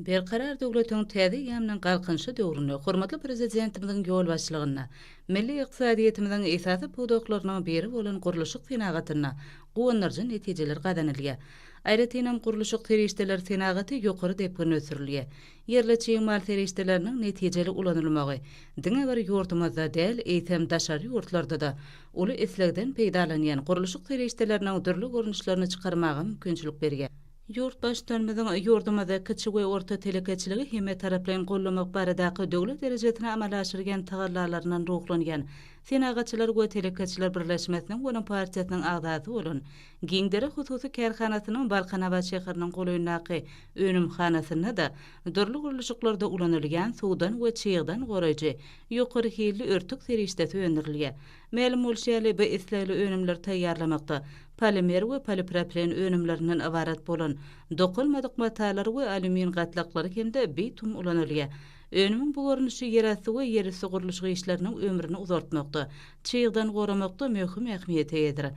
Berkarar döwletiň täze eýýamynyň Galkynyşy döwründe hormatly Prezidentimiziň ýolbaşçylygynda milli ykdysadyýetimiziň esasy pudaklarynyň biri bolan gurluşyk senagatynda guwandyryjy netijeler gazanylýar. Aýratynam, gurluşyk serişdeleri senagaty ýokary depginde ösdürilýär. Ýerli çig mal serişdeleriniň netijeli ulanylmagy diňe bir ýurdumyzda däl, eýsem, daşary ýurtlarda-da uly islegden peýdalanýan gurluşyk serişdeleriniň dürli görnüşlerini çykarmaga mümkinçilik berýär. Ýurt Baştutanymyzyň ýurdumyzda kiçi we orta telekeçiligi hemmetaraplaýyn gollamak baradaky döwlet derejesinde amala aşyrýan tagallalaryndan ruhlanýan Senagatçylar we telekeçiler birleşmesiniň we onuň partiýasynyň agzasy bolan Giňdere hususy kärhanasynyň Balkanabat şäheriniň golaýyndaky önümhanasynda-da dürli gurluşyklarda ulanylýan suwdan we çygdan goraýjy ýokary hilli örtük serişdesi öndürilýär. Mälim bolşy ýaly, bu islegli önümleri taýýarlamakda polimer we polipropilen önümlerinden ybarat bolan dokalmadyk matalary we alýumin gatlaklary hem-de bitum ulanylýar. Önümiň bu görnüşi ýerasty we ýerüsti gurluşyk işleriniň ömrüni uzaltmakda, çygdan goramakda möhüm ähmiýete eýedir.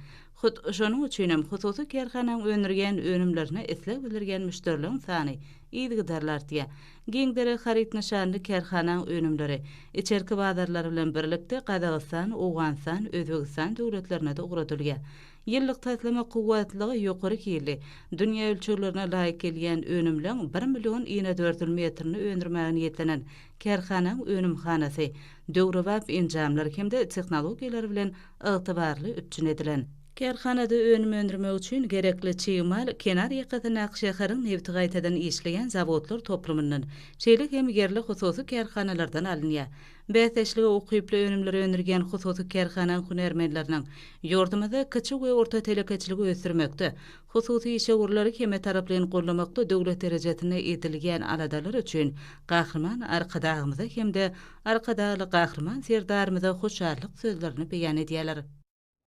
Hut şonuň üçin hem hususy kärhananyň öndürýän önümlerine isleg bildirýän müşderileriň sany yzygiderli artýar. Giň derek haryt nyşanly kärhanaň önümleri içerki bazarlar bilen birlikde Gazagystan, Owganystan, Özbegistan döwletlerine-de ugradylýar. Ýyllyk taslama kuwwatlylygy ýokary hilli, dünýä ölçeglerine laýyk gelýän önümleň bir million inedördül metrini öndürmäge niýetlenen kärhanaň önümhanasy döwrebap enjamlar hem-de tehnologiýalar bilen ygtybarly üpjün edilen. Kärhanada önüm öndürmek üçin gerekli çig mal kenar ýakasyndaky şäheriň nebti gaýtadan işleýän zawodlar toplumyndan, şeýle hem ýerli hususy kärhanalardan alynýar. Bäsdeşlige ukyply önümleri öndürýän hususy kärhanaň hünärmenleriniň ýurdumyzda kiçi we orta telekeçiligi ösdürmekde, hususy işewürleri hemmetaraplaýyn goldamakda döwlet derejesinde edilýän aladalary üçin Gahryman Arkadagymyza hem-de Arkadagly Gahryman Serdarymyza hoşallyk sözlerini beýan edýärler.